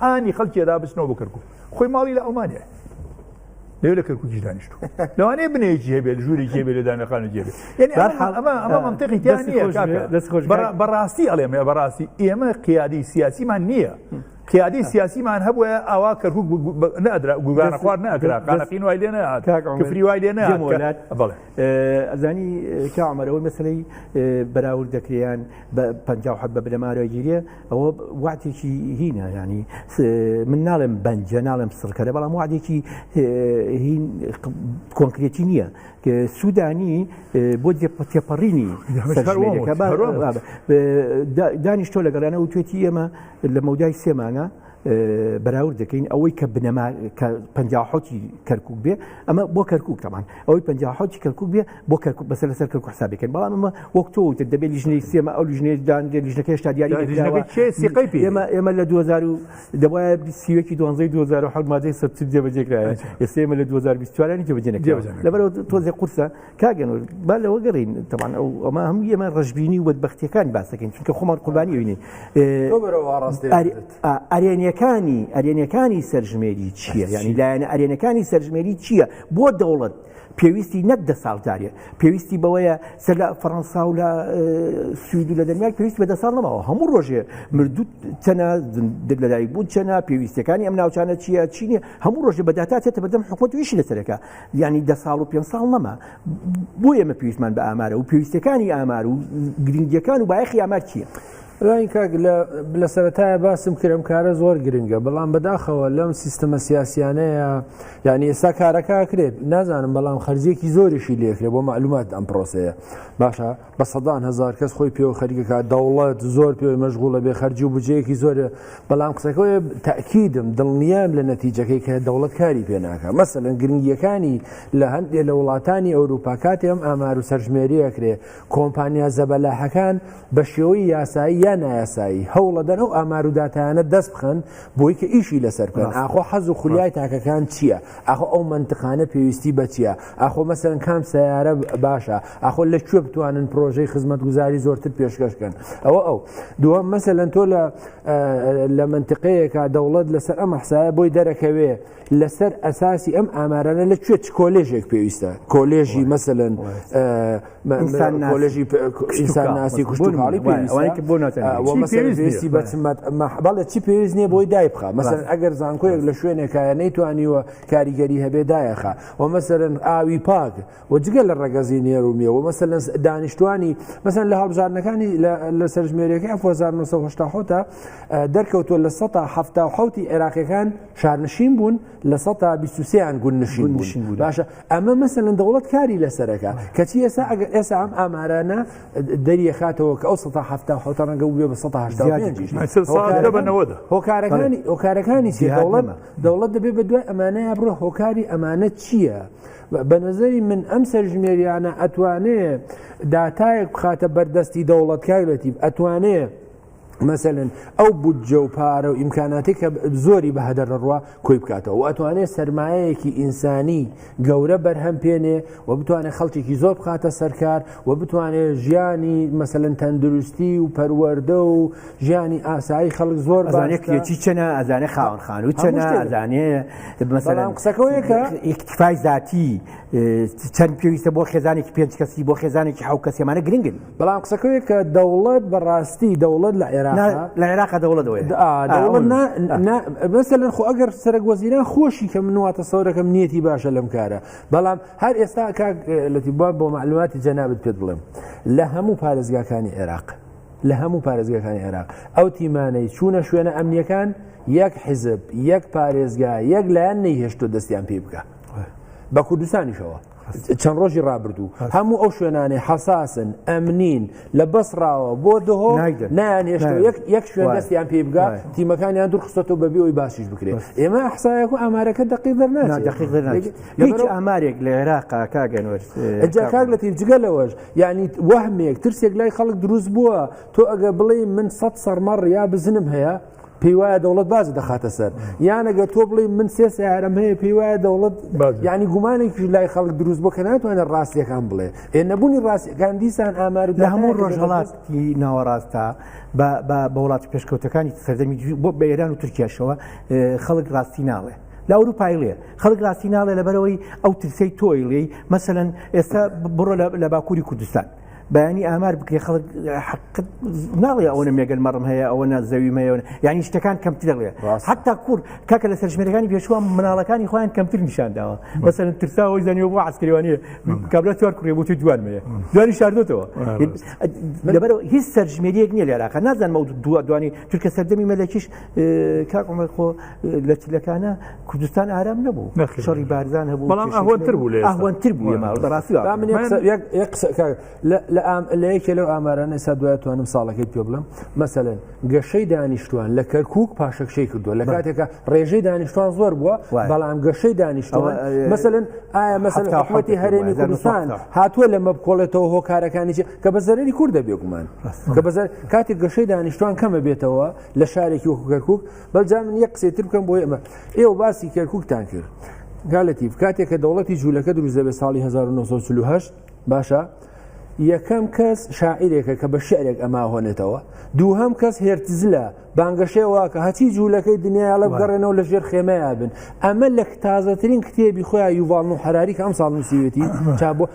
هانی خەڵکی ئەدا بچنەوە بۆ کەرکک خۆی ماڵی لە ئەڵمانیا لێ لە کەرککی دانیشت لەوانەیە بنێکی هەبێت ژووری جێ لە دانەخانە جێ بەڕاستی ئەڵێم بەڕاستی ئێمە قیادی سیاسیمان نییە قیادی سیاسیمان هەبووە ئاوا کەرکک نادرا گوگانە خوارد ناکرا قانەقین وای لێ نەهات کفری وای لێ نەهات ئەزانی کامەرەوەی مەسلەی بەراورد دەکریان بە پ حەب بە بنەمارەگیریە ئەوە واتێکی هینە ینی من ناڵێم بەنجە ناڵێم سڕکەرە بەڵام وادێکی کۆنکرێتی نییە سوودانی بۆ تێپەڕینی دانیشتۆ لەگەڵیانە و توێتی ئێمە لە مەودای سێمانە بەراورد دەکەین ئەوەی کە بنەما کە پەنجاحوتی کەرکک بێ ئەمە بۆ کەرکک تەمان ئەوەی پەنجاحوتی کەرکک بێ بۆ کەرک بەسەر لەسەر کەرک حسابەکەن بەڵام ئەمە وەک تۆ وتر دەبێت لیژنەی سێمە ئەو لیژنەیە دانگە لیژنەکەش تا دیاری ئێمە ئێمە لە 2000 دەبە سیوەکی دوانزەی 2010 مادەی سەر جێبەجێکرایە ئێسێمە لە 2024 جێبەجێ لەبەر تۆزێ قورسە کاگەن با لەوە گەڕین تەوان ئەو ئەمە هەموو ئێمە ڕژبینی و بەدبختیەکان باسەکەین چونکە خۆمان قوربانی وینین ئەرێنیەکانی ئەرێنەکانی سەرژمێری چییە ینی لایەنە ئەرێنەکانی سەرژمێری چییە بۆ دەوڵەت پێویستی نەک دە ساڵدارە پێویستی بەوەیە سەر لە فەڕەنسا و لە سوید و لە دەنیای پێویست بە دە ساڵ نەماوە هەموو ڕۆژێ مردوو چەنە لەدایک بوون چەنە پێویستەکانی ئەم ناوچانە چییە چینە هەموو ڕۆژێ بەداتا چێتە بەدەم حکوومەت ویشی لەسەرەکە یانی دە ساڵ و پێ ساڵ نەما بۆ ئێمە پێویستمان بە ئامارە و پێویستەکانی ئامار و گرنگیەکان و بایەخی ئامار چییە؟ ڕای کاک لە سەرەتایە باسم کرم کارە زۆر گرنگە بەڵام بەداخەوە لەم سیستەمە سیاسیانەیە یعنی ئێستا کارەکە کرێت نازانم بەڵام خەرجێکی زۆریشی لێکرێ بۆ معلومات ئەم پرۆسەیە باشە بە سەدان هەزار کەس خۆی پێوە خەریکەکە دەوڵەت زۆر پێ مەشغولە بێ خەرجی و بجەیەکی زۆرە بەڵام قسەکەی تاکیدم دڵنیام لە نەتیجەکەی کە دەوڵەت کاری پێناکە مەسەن گرنگیەکانی لە هەندێک لە وڵاتانی ئەوروپا کاتی ئەم ئامار و سەرژمێریەکرێ کۆمپانیا زەبەلاحەکان بە شێوەی یاسایی یا نایاسایی هەوڵە دەر ئەو ئامار و دااتانە دەست بخەن بۆی کە ئیشی لەسەر بکەن ئاخۆ حەز و خولیای تاکەکان چییە ئاخۆ ئەو منتقانە پێویستی بەچیە ئاخۆ مەسەرەن کام سیارە باشە ئاخۆ لە کوێ بتوانن پرۆژەی خزمەتگوزاری زۆرتر پێشکەشکەن ئەوە ئەو دووەم مەسە لەن تۆ لە لە منتقەیەکە دەوڵەت لەسەر ئەم حسایە بۆی دەرەکەوێ لەسەر ئەساسی ئەم ئامارانە لە کوێ چ کۆلێژێک پێویستە کۆلێژی مەسەن کۆلژی ئینسانناسی کوشتناڵی پێویستی بەچمەت بەڵێ چی پێویست نییە بۆی دایبخە مەسەر ئەگەر زانکۆیەک لە شوێنێکایە نەیتوانیوە کاریگەری هەبێ دایەخە وە مەسەلەن ئاوی پاک و جگە لە ڕەگەزی نێر و مێ و مەسەلەن دانیشتوانی مەسەن لە هەڵبژاردنەکانی لە سەرژمێرەکەی 1970 دەرکەوتووە لە 1970 عێراقیەکان شارنشین بوون لە 1920یان گون نشین بوون باشە ئەمە مەسەلەن دەوڵەت کاری لەسەرەکە کەچی ئێسا ئەگە ئێسا ئەم ئامارانە دەریەخاتەوە کە ئەو 1970 ڕەنگە بێ بە 1970 هۆکارەکانی هۆکارەکانی چی دەوڵەت دەوڵەت دەبێ بە دوای ئەمانەیە بڕۆ هۆکاری ئەمانە چییە؟ بە نظری من ئەم سەرژمێریانە ئەتوانێ داتایەک بخاتە بەردەستی دەوڵەتکای لەتیب ئەتوانێ مەسەن ئەو بودجە و پارە و ئیمکاناتی کە زۆری بە هەدەر ڕوە کۆی بکاتەوە و ئەتوانێت سرمایەکی ئینسانی گەورە بەرهەم پێنێ و بتوانێت خەڵکێکی زۆر بخاتە سەرکار و بتوانێت ژیانی مەسەن تەندروستی و پەروەەردە و ژیانی ئاسایی خەڵک زۆر بانێکێکی چەنە ئەزانێ خاون خان و چەنە ئەزانێ مەسەلام قسەکەەوەیەکە ئیکتفای ذاتی چەند پێویستە بۆ خێزانێکی پێنج کەسی بۆ خێزانێکی حو کەسێمانە گرنگن بەڵام قسەکەوێت کە دەوڵەت بەڕاستی دەوڵەت لە عێراق لە عێراق دەوڵەت بەسە لەن خۆ ئەگەر سەرک وەزیران خۆشی کە منواتە سەورەکەم نیەتی باشە لەم کارە بەڵام هەر ئێستا لەتی بووە بۆ معلوماتی جەنابت پێ بڵێم لە هەموو پارێزگاکانی عێراق لە هەموو پارێزگەکانی عێراق ئەو تیمانەی چوونە شوێنە ئەمنیەکان یەک حیزب یەک پارێزگا یەک لایەن نەیهێشتۆ دەستیان پێ بکە بە کوردستانیشەوە چەند ڕۆژی ڕابردوو هەموو ئەو شوێنانەی حەساسن ئەمنین لە بەسڕاوە بۆ دهۆ نایان هێشت یەک شوێن دەستیان پێ بگات تیمەکانیان دوورخستەوە بەبی ئەوی باشیش بکرێت ئێمە حسایەک و ئامارەکە دقی دەرناهیچ ئامارێک لە عێراقا کاگەنوەر جاکار لە تیجگە لەوەش یعنی وەهمێک ترسێک لای خەڵک دروست بووە تۆ ئەگە بڵێ من سە سەرمەڕ یا بزنم هەیە پێی وایە دەوڵەت باز دەخاتە سەر یانەگە تۆ بڵێ من سێ سیارم هەیە پێی وایە دەوڵەت ینی گومانێکی لای خەڵک دروست بۆ کە ناتوانێت ڕاستیەکان بڵێ ئێ نەبوونی ڕاستەکان دیسان ئامار لە هەموو ڕۆژهڵاتی ناوەڕاستە بە وڵاتی پێشکەوتەکانی سەردەمی بۆ بە ئێران و تورکیاشەوە خەڵک ڕاستی ناڵێ لە ئەوروپایلێ خەڵک ڕاستی ناڵێ لەبەرەوەی ئەو ترسەی تۆیڵی مەسەن ئێستا بڕۆ لە باکووری کوردستان بەیانی ئامار بکرێ خەڵک حقت ناڵێ ئەوە مێگەل مەڕم هەیە ئەوە زەوی مەیەوە ینی شتەکان کەمتر دەڵێ حتا کورد کاکە لە سەرژمێرەکانی پێشوە مناڵەکانی خۆیان کەمتر نیشان داوە بەسەر ترساەوەی زانانی بۆ عسکەوانی کابرا چوار کوڕێ بۆ توی دوان مەیە دوانی شاردۆتەوە لەبەر هیچ سەرژمێریەک نیە لێراکە نازانمە دووە دوانی تورکە سەردەمی مەلەکیش کاکمە خۆ لە چلەکانە کوردستان ئارام نەبوو شەڕی بارزان هەبوو بەڵام ئەهوەتر بوو لێ ئەهوەتر بوو ماڕاستی لە یەکێ لەو ئامارانە سا دوای توانم ساڵەکەی پێ بڵم مەسەن گەشەی دانیشتوان لە کەرکک پاشەکشەی کردووە لە کاتێکە ڕێژەی دانیشتوان زۆر بووە بەڵام گەشەی دانیشتوان مەسەن ئایا مەسەحوتی هەرێمی کوردستان هاتووە لە مەبکۆڵێتەوە هۆکارەکانی کە بە زەرری کووردە بێگومان کە بەزار کاتێک گەشەی دانیشتوان کەمە بێتەوە لە شارێکی وەکوکەرکک بەجا من یە قسەی تر بکەم بۆ ئێمە ئێوە باسی کەرککتان کرد گالەتی کاتێک کە دەوڵەتی جوولەکە دروست دەبێت ساڵی 1940 باشە یەکەم کەس شاعیرێکە کە بە شعرێک ئەما هۆنێتەوە دووهم کەس هێرتزلە بانگەشێ واکە هەچی جوولەکەی دنیاڵە بگەڕێنەوە لە ژێر خێمەیە بن ئەمە لە تازەترین کتێبی خۆیان یوڤڵ و حراریکە ئەم ساڵ نووسیوێتی چا بۆ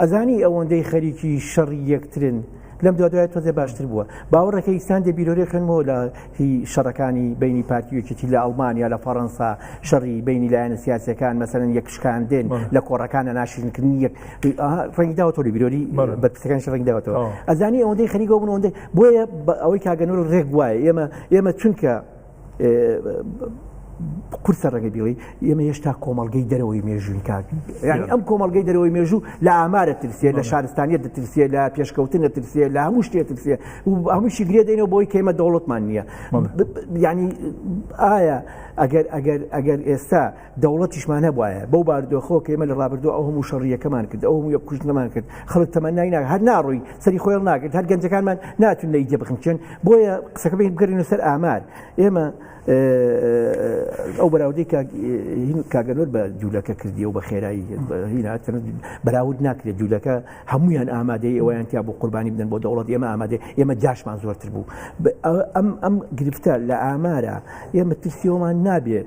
ئەزانی ئەوەندەی خەریکی شەڕی یەکترن لەم دوادوای تۆزێ باشتر بووە باوەڕەکە ئیسان دە بیرۆری خوێنمەوە لە هی شەڕەکانی بینی پارتیوەکێتی لە ئەڵمانیا لە فەڕەنسا شەڕی بینی لایەنە سیاسەکان مەسەرن یەکشکاندن لە کۆڕەکانە ناشرنکردنی یەک ڕنگداوە تۆ لە بیرۆری بە پسەکان شڕنگداوەتەوە ئەزانی ئەوەندەی خەریکەوە بن ئەوەندە بۆیە ئەوەی کاگەنەوە ڕێک وایە ئێمە ئێمە چونکە قورسە ڕەگە بیڵی ئێمە هێشتا کۆمەلگەی دەرەوەی مێژووی کاک یعنی ئەم کۆمەلگەی دەرەوەی مێژوو لە ئامارە ترسێ لە شارستانیت دەترسێ لە پێشکەوتن دەترسێ لە هەموو شتێ ترسێ و هەمووشی گرێ دەینەوە بۆی کەمە دەوڵەتمان نییە ینی ئایا ئەگەر ئەگەر ئەگەر ئێستا دەوڵەتیشمان هەبوایە بەو باردۆخەوە کە ئێمە لە ڕابردوو ئەو هەموو شەڕیەکەمان کرد ئەو هەموو یە کوشتنەمان کرد خەڵک تەمەنای ناک هەر ناڕووی سەری خۆیڵ ناکرد هەر گەنجەکانمان ناتون لە ئیدە بخنچێن بۆیە قسەکە بین بگەرین سەر ئامار ئێمە ئەو بەراودەی کاگەلۆر بە جوولەکە کردی و بە خێرایی بەراود ناکرێت جوولەکە هەمویان ئامادەی ئەویان تیا بۆ قوربانی بدەن بۆ دەوڵەت ئێمە ئامادە ئێمە جاشمان زۆرتر بوو ئەم ئەم گرفتە لە ئامارە ئێمە ترسیەوەمان نابێت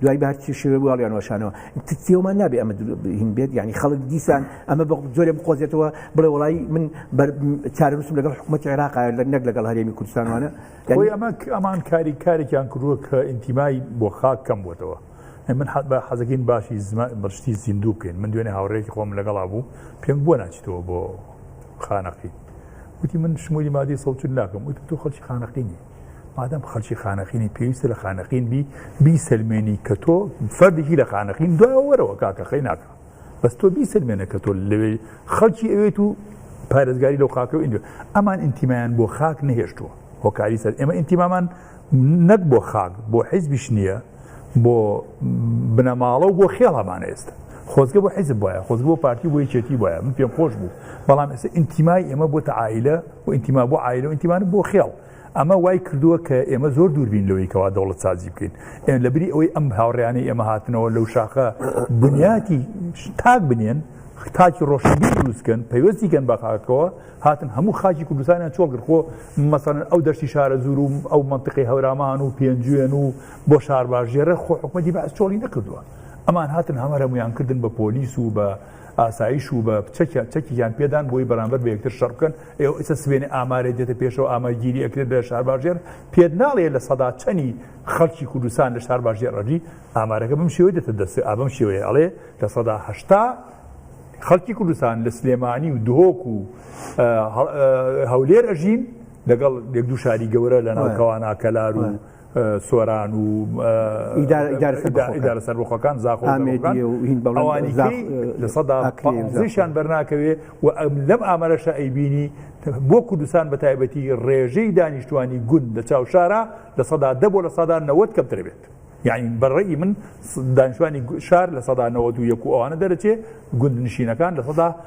دوای بە هەرچی شێوێ بواڵیان وەشانەوە تێومان نابێ ئەمە هین بێت ینی خەڵک دیسان ئەمە بە زۆرێ بقۆزێتەوە بڵێ وڵی من چارەنووسم لەگەڵ حکوومەت عێراق لە نەک لەگەڵ هەرێمی کوردستانوانە ئەوەی ئەمە ئەمان کاری کارێکیان کردووە کە ئینتیمای بۆ خاک کەم بووتەوە. من حەت بە حەزەکەین باشی بەشتی زیندوو بکەین من دوێنێ هاوڕێکی خۆم لەگەڵا بوو پێم بۆ ناچیتەوە بۆ خانەقی وتی من شمولی مادی سەوتن ناکەم وتی تو خەڵکی خانەقینی مادەم خەلکی خانەقینی پێویستە لە خانەقین بی بیسەلمێنی کە تۆ فەردێکی لە خانەقین دوایەوەرەوە کاکە خەی ناکە بەس تۆ بیسەلمێنە کە تۆ لەوێ خەڵکی ئەوێت و پارێزگاری لەو خاکە و ئینجا ئەمان ئینتیمایان بۆ خاک نەهێشتووە هۆکاری سەر ئێمە ئینتیمامان نەک بۆ خاک بۆ حیزبیش نییە بۆ بنەماڵە و بۆ خێڵەمان ئێستا خۆزگە بۆ حیزب وایە خۆزگە بۆ پارتی بۆ یەکێتی وایە من پێم خۆش بوو بەڵام ئێستا ئینتیمای ئێمە بۆ تەعاعیلە و ئینتیما بۆ عایلە و ئینتیمان بۆ خێڵ ئەمە وای کردووە کە ئێمە زۆر دووربین لەوەی کەوا دەوڵەت سازی بکەین ئێمە لە بری ئەوەی ئەم هاوڕیانەی ئێمە هاتنەوە لەو شاخە بنیاتی تاک بنێن تاکی ڕۆشنبی دروستکەن پەیوەستیکەن بە خاکەوە هاتن هەموو خاکی کوردستانیان چۆگرخۆ مەسەن ئەو دەشتی شارە زور و ئەو منطقی هەورامان و پێنجوێن و بۆ شارباژێرە خۆ حکومەتی بەس چۆڵی نەکردووە ئەمان هاتن هەمەرەمویان کردن بە پۆلیس و بە ئاسایش و بە چەکیا چەکیان پێدان بۆی بەرامبەر بە یەکتر شەڕ بکەن ئێوە ئیسە سبێنێ ئامارێ دێتە پێشەوە ئاماگیری ئەکرێت لە شارباژێر پێت ناڵێ لە سەدا چەنی خەڵکی کوردستان لە شارباژێر ڕەژی ئامارەکە بم شێوەی دێتە دەست ئابم شێوەیە ئەڵێ لە سەدا هەشتا خەڵکی کوردستان لە سلێمانی و دهۆک و هەولێر ئەژین لەگەڵ یەک دوو شاری گەورە لە ناوکەوانە کەلار و سۆران و ئیدارە سەربخۆکان زاخۆشیان بەرناکەوێ و ئەم لەم ئامارەشە ئەیبینی بۆ کوردستان بە تایبەتی ڕێژەی دانیشتوانی گوند لە چاو شارە لە سەدا دە بۆ لە سادا نەوەت کەمتر بێت. یعنی بەڕێی من دانیشتوانی شار لە سەدا نەوەت و یەک و ئەوانە دەرەچێ گوند نشینەکان لە سەدا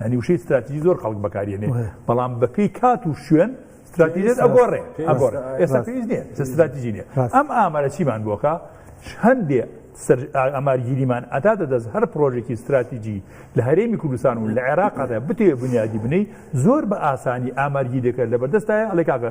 یعنی وشەی ستراتیژی زۆر خەڵک بەکاریێنێ بەڵام بەپی کات و شوێن ستراتیژێت ئەگۆڕێ ئەگۆڕ ئێستا پێویست نیە ستراتیژی نیە ئەم ئامارە چیمان بۆکە هەندێ ئەمارگیریمان ئەتا دەدەست هەر پرۆژێکی ستراتیژی لە هەرێمی کوردستان و لە عێراقدا بتێ بنیادی بنەی زۆر بە ئاسانی ئامارگی دەکرد لە بەردەستایە ئەڵێ کاکە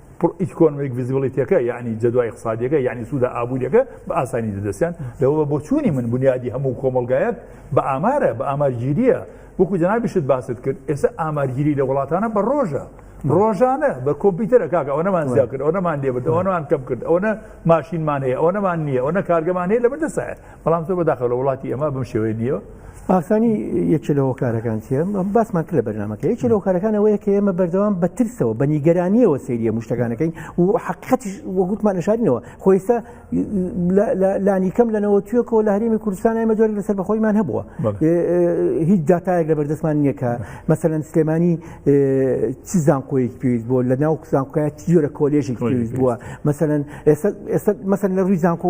ئیکۆنمیک ڤیزیبڵیتیەکە یعنی جەدوای اقتصادیەکە یعنی سوودە ئابوووریەکە بە ئاسانی دەدەستیان لەوە بە بۆچوونی من بنیادی هەموو کۆمەلگایەک بە ئامارە بە ئامارگیریە وەکو جنابیشت باست کرد ئێستا ئامارگیری لە وڵاتانە بە ڕۆژە ڕۆژانە بە کۆمپیوتەر کاک ئەو نەمان زیاد کرد ئەو نەمان لێبرد ئەوەوان کەم کرد ئەوە ماشینمان هەیە ئەو نەمان نییە ئەو نە کارگەمان هەیە لە بەردەسایە بەڵام زۆر بەداخە لە وڵاتی ئەمە بم شێوەیە نییە ئاکانی یەکێ لە هۆکارەکان چێ باسمان کرد لە بەرنمەکە یەکێ لە هۆکارەکانەوەیە کە ئێمە بەردەوام بە ترسەوە بە نیگەرانیەوە سریە مشتەکانەکەین و حقیقەتش وەگوتمان شارینەوە خۆیستا لانی کەم لەنەوە توێکەوە لە هەرمی کوردستان ئەمە جۆری لەسەر بەخۆیمان هەبووە هیچ داتایەک لە بەردەستمان نییەکە مەسەەن سلێمانی چ زانکۆیەک پێویست بۆ لە ناو زانکۆیە جۆرە کۆلێژێک پێویست بووە مەسەن ئێستا مەسەن لە ڕووی زانکۆ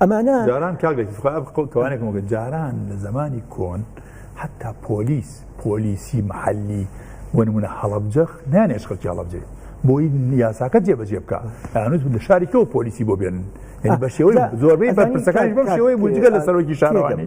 ئەمانە جاران کاک لەکی خۆ بقڵ توانێک مگە جاران لە زمانی کۆن حتا پۆلیس پۆلیسی محلی وەنمونە هەڵبجەخ نانێش خەڵکی هەڵبجێ بۆی یاساکە جێبەجێ بکە ئەنووس لە شاری تۆ پۆلیسی بۆ بێنن بە شێوەی زۆربەی بەرپرسەکانی بەم شێوەی بجگە لە سەرۆکی شارەوانی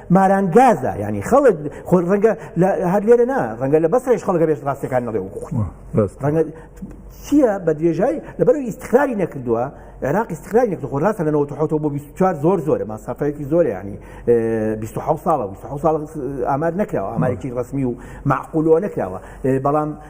ماران گازە ینی خەڵک خۆ ڕەنگە هەر لێرە نا ڕەنگە لە بەسرش خەڵگە بێش ڕاستەکان نەڵێ ڕەنگە چییە بە درێژای لەبەر ئیسخراری نەکردووە عێراق ئیسخرای نەکرد خۆ ڕاستە لە 1970 بۆ 24 زۆر زۆرە ماسافەیەکی زۆر ینی 26 ساڵە 26 ساڵ ئامار نەکراوە ئامارێکی ڕسمی و معقولەوە نەکراوە بەڵام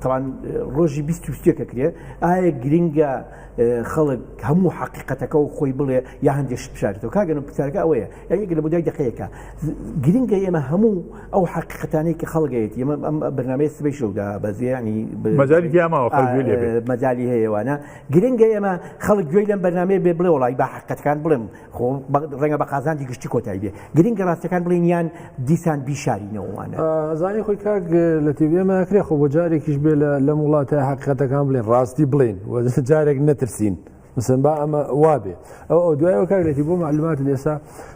تاوان ڕۆژی 20 کرێ ئایا گرنگە خەڵک هەموو حقیقەتەکە و خۆی بڵێ یا هەندێک بشارێتەوە کاگەن پرسیارەکە ئەوەیە یاەک لە بودای دقەیەەکە گرنگە ئێمە هەموو ئەو حقیقەتانەی کە خەڵگەیەت ئمە ئەم بەنامەیە سبەی شەودا بەزیانی مەزاری دیاماوە مەزاری هەیەوانە گرنگە ئێمە خەڵک گوێی لەم بەنامەیە بێ بڵێ وڵی با حقەتەکان بڵێم خۆ ڕەنگە بە قازانجی گشتی کۆتایی بێ گرنگە ڕاستەکان بڵین یان دیسان بیشارینەوەوانە زانانی خۆی کاک لە تێبێمەکرێ خۆ بۆ جارێکیش بێ لە لەم وڵاتە حقیقەتەکان بڵێن ڕاستی بڵین و جارێک نەترسین. مثلن با ئەمە وابێ ئەو ئەو دوایەوە کارێتی بۆ معلومات لێسا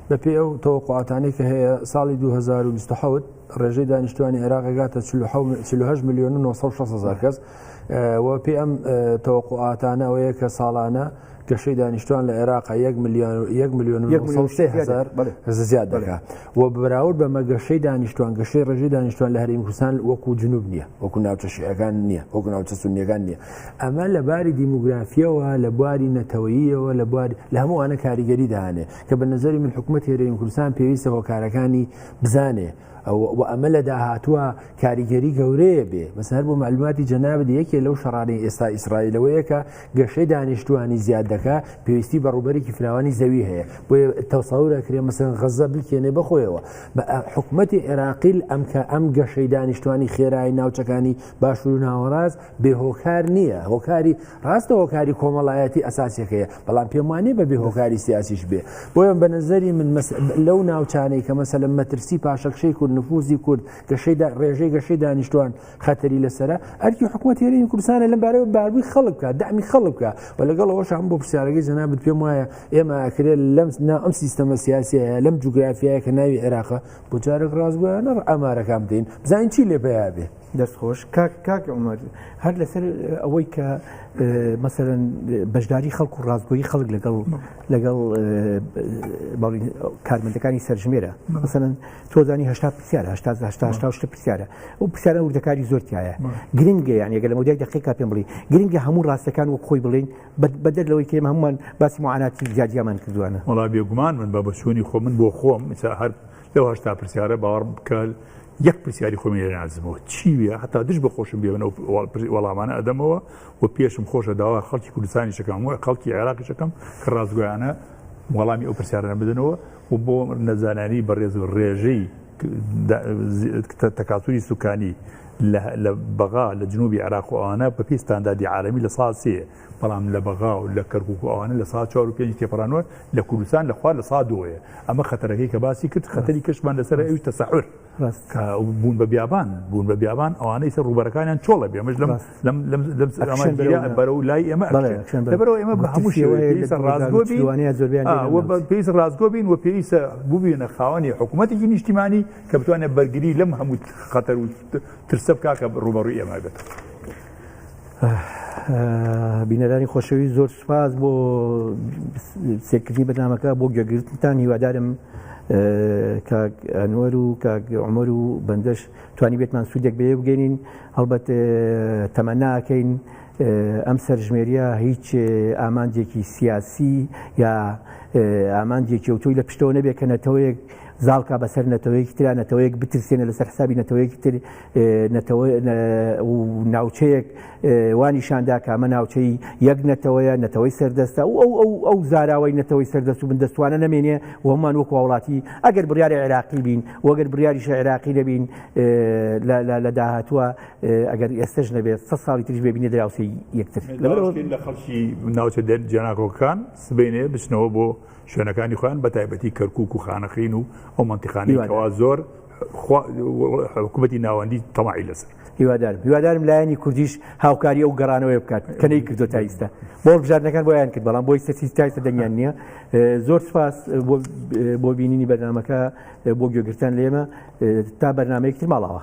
بە پێ ئەو تەوەقعاتانی کە هەیە ساڵی 2020 ڕێژەی دانیشتوانی عێراقگاتە 1970 میلیۆن 960 هزار کەس و پێ ئەم تەوەقوعاتانە ئەوەیە کە ساڵانە گەشەی دانیشتوان لە عێراق یەک میلیۆن یەک میلیۆن هزار زیاد دەکات و بەراورد بەمە گەشەی دانیشتوان گەشەی ڕژی دانیشتوان لە هەریم کوردستان وەکو جنوب نییە وەکو ناوچە شیعەکان نییە وەکو ناوچە سنیەکان نییە ئەمە لە باری دیموگرافیەوە لە بواری نەتەوەییەوە لە بواری لە هەمووانە کاریگەری دانێ کە بە نظری من حکوومەت هێرەیم کوردستان پێویستە هۆکارەکانی بزانێ و ئەمە لە داهاتوە کاریگەری گەورەیە بێ بەس هەر بۆ معلوماتی جەنابێت یەکێ لەو شەڕانی ئێستا ئیسرائیلەوەیەکە گەشەی دانیشتوانی زیاد دەکە پێویستی بە ڕوبەرێکی فراوانی زەوی هەیە بۆ تەساورە کرێ مەسەن غەزە بلکێنێ بخۆیەوە بە حکوومەتی عێراقیل ئەمکە ئەم گەشەی دانیشتوانی خێرای ناوچەکانی باشور و ناوەڕاز بێ هۆکار نییە هۆکاری ڕاستە هۆکاری کۆمەڵایەتی ئەساسەکەیە بەڵام پێم وانێ بە بێ هۆکاری سیاسیش بێ بۆیان بە نظری من لەو ناوچانەی کە مەسەل مەترسی پاشەکشەی کورد نفوزی کورد گەشەی ڕێژەی گەشەی دانیشتوان خەتەری لەسرە ئەرکی حکوومەت هێرین کوردستانە لەم بارەوە باربووی خەڵک بکە دامی خەڵک بکە و لەگەڵ ئەوش هەم بۆ پرسیارەکەی جەنابەت پێم وایە ئێمە ئەکرێت لەم نا ئەم سیستەمە سیاسیە لەم جوگرافایە کە ناوی عێراقە بۆ جارێک ڕاستگویانە ئەمارەکان بدەین بزانین چی لێ بەیابێ دەست خۆش کاک کاک عمر هەر لەسەر ئەوەی کە مەسەرەن بەشداری خەڵک و ڕاستگۆی خەڵک لەگەڵ لەگەڵ کارمەندەکانی سەرژمێرە مەسەن تۆزانی هشتا پرسیارە هشتا شتە پرسیارە ئەو پرسیارە وردەکاری زۆرتیایە گرنگە یان یەگە لە مۆدای دقیقا پێم بڵی گرنگە هەموو ڕاستەکان وەک خۆی بڵین بەدەر لەوەی کێمە هەمومان باسی معاناتی زیادیامان کردوانە وڵا بێگومان من بە بەچوونی خۆ من بۆ خۆم هەر لەو هشتا پرسیارە باوەڕ بکەل یەک پرسیاری خۆمی لێ نازمەوە چی وێ هەتا دش بە خۆشم بێ وەڵامانە ئەدەمەوە و پێشم خۆشە داوا خەڵکی کوردستانی شەکەم وە خەڵکی عێراقی شەکەم کە ڕاستگویانە وەڵامی ئەو پرسیارە بدنەوە و بۆ نەزانانی بەڕێز و ڕێژەی تەکاتوری سوکانی لە بەغا لە جنوبی عراق و ئەوانە بە پێی ستاندادی عالمی لە ساسەیە بەڵام لە بەغا و لە کەرکوک و ئەوانە لە سەعات چوار و پێنج تێپەڕانوە لە کوردستان لە خوار لە سەعات دووەیە ئەمە خەتەرەکەی کە باسی کرد خەتەری کەشمان لەسەر ئەوی تەسەعر کە بوون بە بیابان بوون بە بیابان ئەوانەی سەر ڕوبەرەکانیان چۆڵە بێ مەش لەم لەم لەم لەم سەرمانگیرە بەرە و لای ئێمە لەبەرەوە ئێمە بە هەموو شێوەیە ڕازگۆ بین زۆربیان پێیس ڕازگۆ بین و پێیسە ببینە خاوەنی حکوومەتێکی نیشتیمانی کە بتوانێت بەرگری لەم هەموو خەتەر و ترسە بکاکە ڕوبەڕوی ئێمە بێت. بینەرانی خۆشەوی زۆر سوپاس بۆ سێکردنی بەنامەکە بۆ گوێگرتنتان هیوادارم کاگئەنوەر و کاگعمەر و بەندەش توانی بێتمان سوودێک بێ بگەین هەڵبەت تەمەناکەین ئەم سەرژمێریە هیچ ئامانجێکی سیاسی یا ئامانجێکی ئەوتۆی لە پشتەوە نەبێت کە نەتەوەیەک زاڵکە بەسەر نەتەوەیەکی تررا نەتەوەیەک بترسێنە لەسەر حسابی نەتەوەیەکی تر نەتەوە و ناوچەیەک وانیشاندا کامە ناوچەی یەک نەتەوەیە نەتەوەی سەردەستە و ئەو ئەو ئەو زاراوەی نەتەوەی سەردەست و بندەستوانە نامێنێ ومان وەک وڵاتی ئەگەر بڕیاری عێراقی بین وەگەر بڕیاریش عێراقی دەبین لە داهاتووە ئەگەر ئێستش نەبێت سە ساڵی تریش ببینێ دراوسی یەکتر لە خەڵکی ناوچە دەر جێناکۆکان سبینێ بچنەوە بۆ شوێنەکانی خۆیان بە تایبەتی کەرکک و خانەخین و ئەو منتیقانی کەوا زۆر حکوومەتی ناوەندی تەماعی لەسەر هیوادارم هیوادارم لایەنی کوردیش هاوکاری ئەو گەڕانەوەی بکات کە نەی کردو تا ئیستا بۆ بژاردنەکان بۆیان کرد بەڵام بۆی سەسی تایسە دەنگیان نییە زۆر سپاس بۆ بینینی بەرنمەکە بۆ گوێگرتن لێمە تا بەرنمەیەکتر ماڵەوە